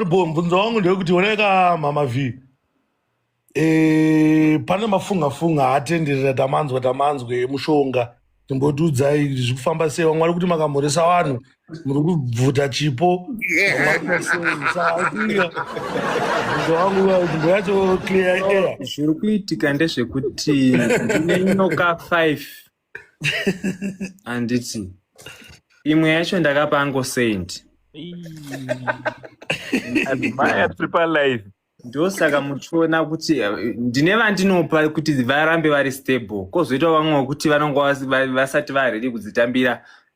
Bo, mvunzo wangu ndewekuti oneka mama v e, pane mafunga funga haatenderera tamanzwa tamanzwa emushonga timbotiudzai kuti zviri kufamba sei vamwe vari kuti makamhoresa vanhu muri kubvuta chipo vamwe vari kuita sei saaia mvunzo wangu uya kuti mbo yacho clear air zviri kuitika ndezvekuti ndine nyoka 5 handiti imwe yacho ndakapa ango saint maya tiri palive ndosaka muchiona kuti eh, ndine vandinopa kuti varambe vari stable kozoitawo vamwe vekuti vanonga vasati varedi kudzitambira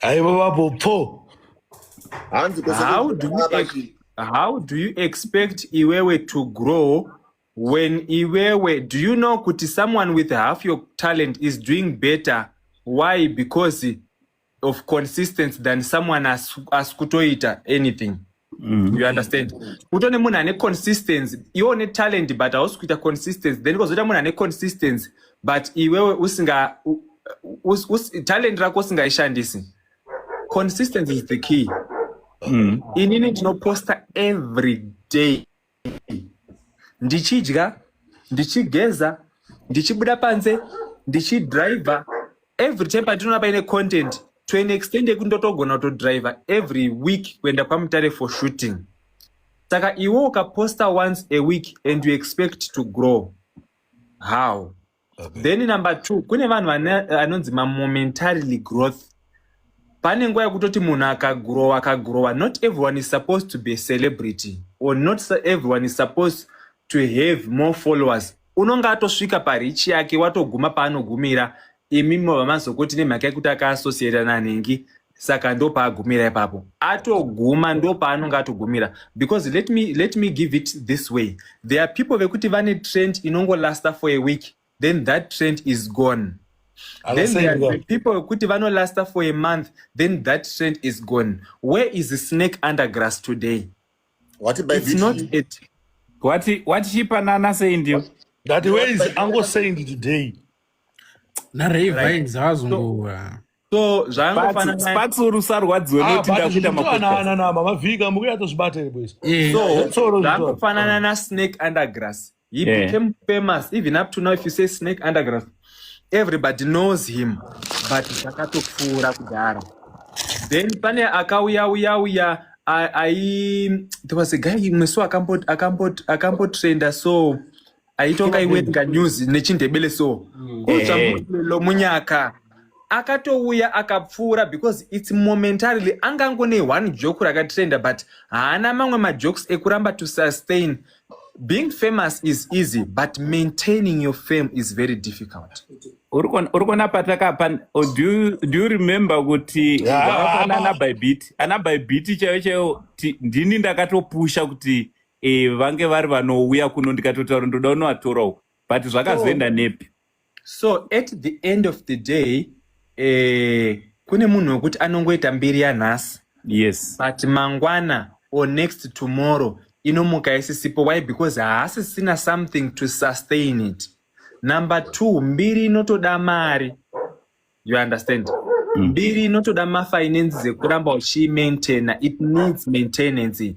aivo vapo pfo hanzi kwese how do you, ex how do you expect iwewe to grow when iwewe do you know kuti someone with half your talent is doing better why because of consistency than someone asi kutoita anything mm. you understand kuto nemunhu ane consistency iwe une talent but hausi kuita consistency then kozoita munhu ane consistency but iwewe usinga us, us, talent rako usingaishandisi consistency is the key mm. inini ndinoposta every day ndichidya ndichigeza ndichibuda panze ndichidriver every time patinoona paine content to an extend yekuti ndotogona kutodriver every week kuenda kwamutare for shooting saka iwe ukaposta once a week and you expect to grow how okay. then number two kune vanhu vanonzi mamomentarily growth pane nguva yekutoti munhu akagrowa akagrowa not everyone is supposed to be celebrity or not everyone is supposed to have more followers unonge atosvika parichi yake watoguma paanogumira imi mobva mazokoti nemhaka yekuti akaassociata nanhingi saka ndopaagumira ipapo atoguma ndopaanonge atogumira because let me, let me give it this way there are people vekuti vane trend inongolasta for a week then that trend is gone then there are people vekuti vanolasta for a month then that trend is gone where is the snake under grass today what about it's not it what what she panana saying you that way is ango saying today na ravines right. hazunguwa right. so zvaangofanana sparks uri usarwadziwe Ah, noti but ndakuita zvinoitwa makuta naana na mama vhika mukuya tozvibata here boys Eh, so Tsoro, zvaangofanana na snake undergrass he Yeah. became famous even up to now if you say snake undergrass everybody knows him but zvakatopfuura kudhara then pane akauya uya uya a- ai there was a guy mwesu akambot akambot akambotrenda so aitonga iwerenga news nechindebele so mm. kotsvamulo munyaka akatouya akapfuura because its momentarily anga angone one joke rakatrenda but haana mamwe majokes ekuramba to sustain being famous is easy but maintaining your fame is very difficult uri kuona patakapa oh, do, do you remember kuti vakafanana ah, ah, ah. by bit ana by bit chaiyo chaiyo ndini ndakatopusha kuti e, vange vari vanouya kuno ndikatotaura ndoda unovatora uko but zvakazoenda so, nepi so at the end of the day eh, kune munhu wekuti anongoita mbiri yanhasi yes but mangwana or next tomorrow inomuka isisipo why because haasisina something to sustain it number two mbiri inotoda mari you understand mm. mbiri inotoda mafinance dzekuramba uchiimaintaina it needs maintenance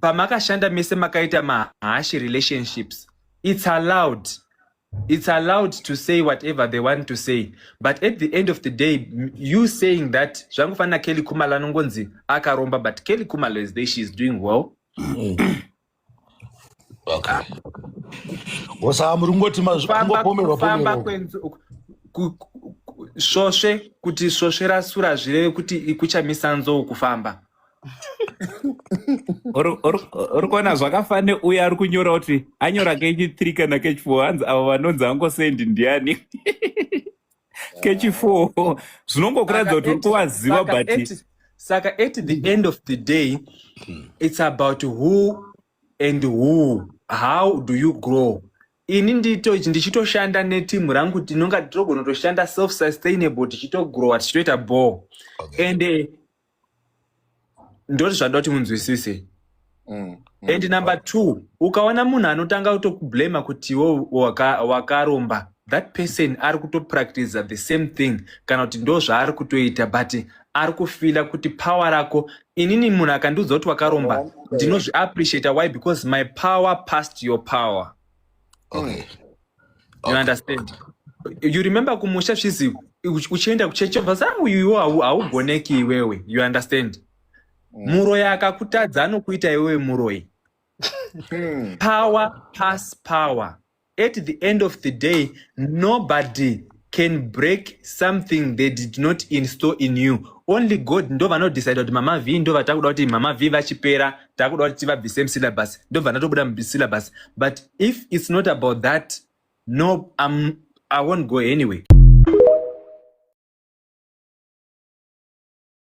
pamakashanda mese makaita mahash relationships it's allowed it's allowed to say whatever they want to say but at the end of the day you saying that zvangofanira kelly kumala anongonzi akaromba but kelly kumala is there she is doing well svosve kuti svosve rasura zvireve kuti kuchamisa nzou kufamba uri kuona zvakafanana neuye ari kunyora kuti anyora kechi three kana kechi four hanzi avo vanonzi angosendi ndiani kechi four zvinongokuratidza kuti uri kuvaziva but saka at the end of the day it's about who and who how do you grow ini ndito ichi ndichitoshanda netimu rangu tinonga togona kutoshanda self sustainable tichitogrowa tichitoita ball and uh, ndoti zvandoda kuti munzwisise mm, mm, and number two ukaona munhu anotanga kutokublama kuti iwo wakaromba waka that person ari kutopractiza the same thing kana kuti ndo zvaari kutoita but ari kufila kuti power rako inini munhu akandiudza kuti wakaromba ndinozviappreciata why because my power past your power okay. mm. you understand you remember kumusha svizi uchienda kuchechi obva sa uyuwo haugoneki iwewe you understand mm. muroyi akakutadza anokuita iwewe muroyi hmm. power pass power at the end of the day nobody can break something they did not install in you only god ndo vanodecide kuti mama v ndo vatakuda kuti mama v vachipera takuda kuti tivabvise musyllabus ndo vanatobuda musyllabus but if it's not about that no I'm, i won't go anyway